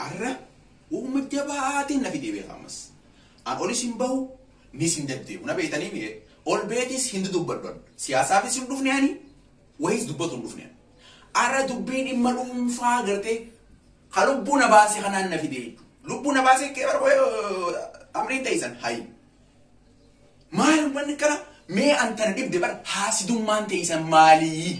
Arra uuma jabaatiin na fidee beeka ammas. An olis hin bahu nis hin deddeebu na beetanii mi'ee ol beetis hin dudubbadhu an siyaasaafis hin dhufne ani wayiis dubbatu hin dhufne ani. Arra dubbii dhimma dhuunfaa gartee ka lubbuu na baase kanaan na fidee jechuudha. Lubbuu na baase kee bara amriin teessan hayi. Maal wanni kana mee an tana dhibde bara haasidummaan teessan maalii?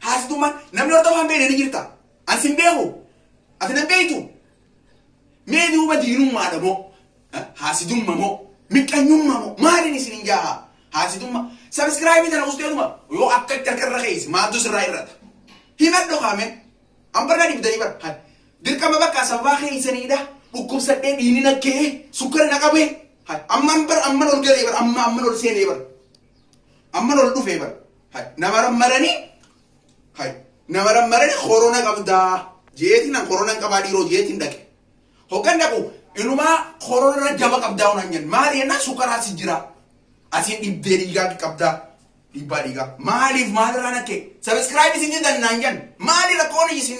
Haasoftummaan namni hordofaa hin beekne ni jirta. An sin beeku. Ati nan beektu. Mee duuba diinummaadha moo? Haasidumma moo? Miqqanyumma moo? Maaliin isin hin jaaha? Haasidumma. Sabiskiraayibii tana usteeduma yoo akka itti harka irra keeyse maaltu sirraa irrata? Himadhu kaame. An barna dibdanii bar. Hay. Dirqama bakka sababaa keeysaniidha. Dhukkubsadhee dhiini na ka'ee sukkara na qabee. Hay. Amman bar amman ol galee bar amma amman ol seenee bar. Amman ol dhufee bar. Hay na marammaranii hay na marammaranii korona qabdaa jeetiin an korona hin qabaa dhiiroo jeetiin dhaqe. Hoggan dhaqu inumaa korona irra jaba qabdaa hunaan jenna maali jennaan sukaraa si jira asiin dhibbee dhiigaa qabdaa dhiibbaa dhiigaa maaliif maalirraa nakke sabiskiraayib isin jedhan naan jenna maali rakkoon isin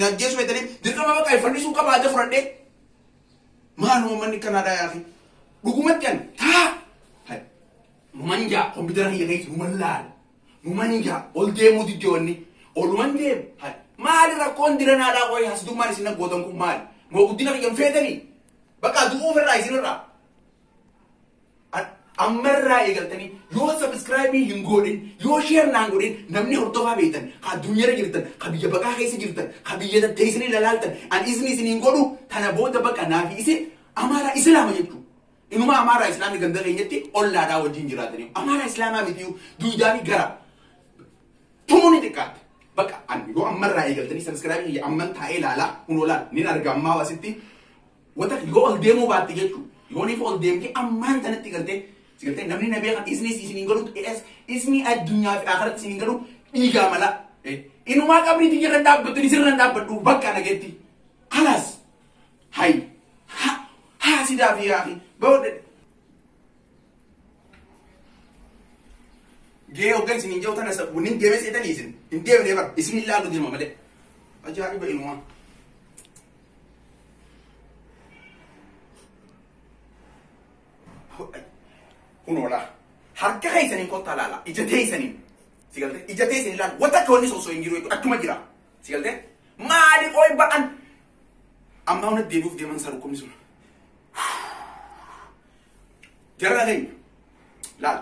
naggeessu jettanii dirqama baqa ifannisuun qabaa adda fudhadhee Maal uummanni Kanaadaa yaafii? Dhugumatti ani taa! Hay! Numan jaa kompiitara kiyya keessa numan laala. Numan jaa ol deemuu didde wanni. Oluman deemu. Hay! Maali rakkoon diranaadhaa qoyi hasitummaan isin aggootan kun maali? Moo guddina kiyya hin feetanii? Bakka du'uu ofirraa isinirraa. ammarraa eegaltanii yoo sabiskiraayibii hin goodhin yoo sheer naan godhin namni hordofaa beektan ka addunyaarra jirtan ka biyya baqaa keessa jirtan ka biyya tatteessanii lalaaltan an isin isin hin godhu tana booda baqa naafi isin amaaraa islaama jechuu inuma amaaraa islaamni ganda keenyatti ollaadhaa wajjin jiraatanii amaaraa islaamaa mitiyu duudaa fi gara tumuu ni xiqqaate baqa an yoo ammarraa eegaltanii sabiskiraayibii kiyya amman taa'ee laalaa kun olaan nin arga ammaa wasitti Wata yoo ol deemuu baatte jechu yooniif ol deemtee ammaan tanatti galtee si galtee namni na beekan isnis isiniin galuutu es isni addunyaa fi akhiratti isiniin galu dhiigaa mala inumaa qabrii tiyya irra dhaabbattu isin irra dhaabbadhu bakka na geetti kalas hay ha ha sidaa fi yaafi bawde gee ogga isiniin jehu tana sabbunin deemee seetanii isin hin deemnee bar isin ilaalu deema malee ajaa'iba inumaa Kunoodha. Harka keessaniin kottaa laala. Ija teessaniin. Si galtee? Ija teessaniin laala. Wanta akka wanni sosoo hin jiru jechuudha. Achuma jira. Si galtee? Maali qoy ba'an? Ammaa hunda deebi'uuf deeman isaa dhukkubni sun. Jara keenya. Laala.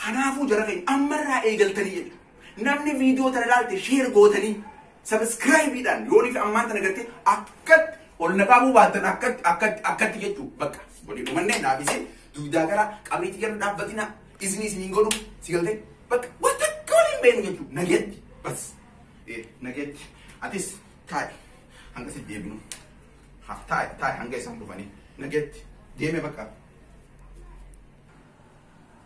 Kanaafuu jara keenya ammarraa eegaltanii jedha. Namni viidiyoo tana ilaalte sheer gootanii sabiskiraayibiidhaan yoonii fi ammaan tana gartee akkatti ol na qaabuu baattan akkatti akkatti akkatti jechuu bakka walii dhumannee naaf isin duudaa gara qabriitti gara dhaabbatina isin isin hin godhu si galtee bakka waan takka waliin beenu jechuu nageetti bas ee nageetti atis taa'i hanga si deebinu ha taa'i taa'i hanga isaan dhufanii nageetti deeme bakka.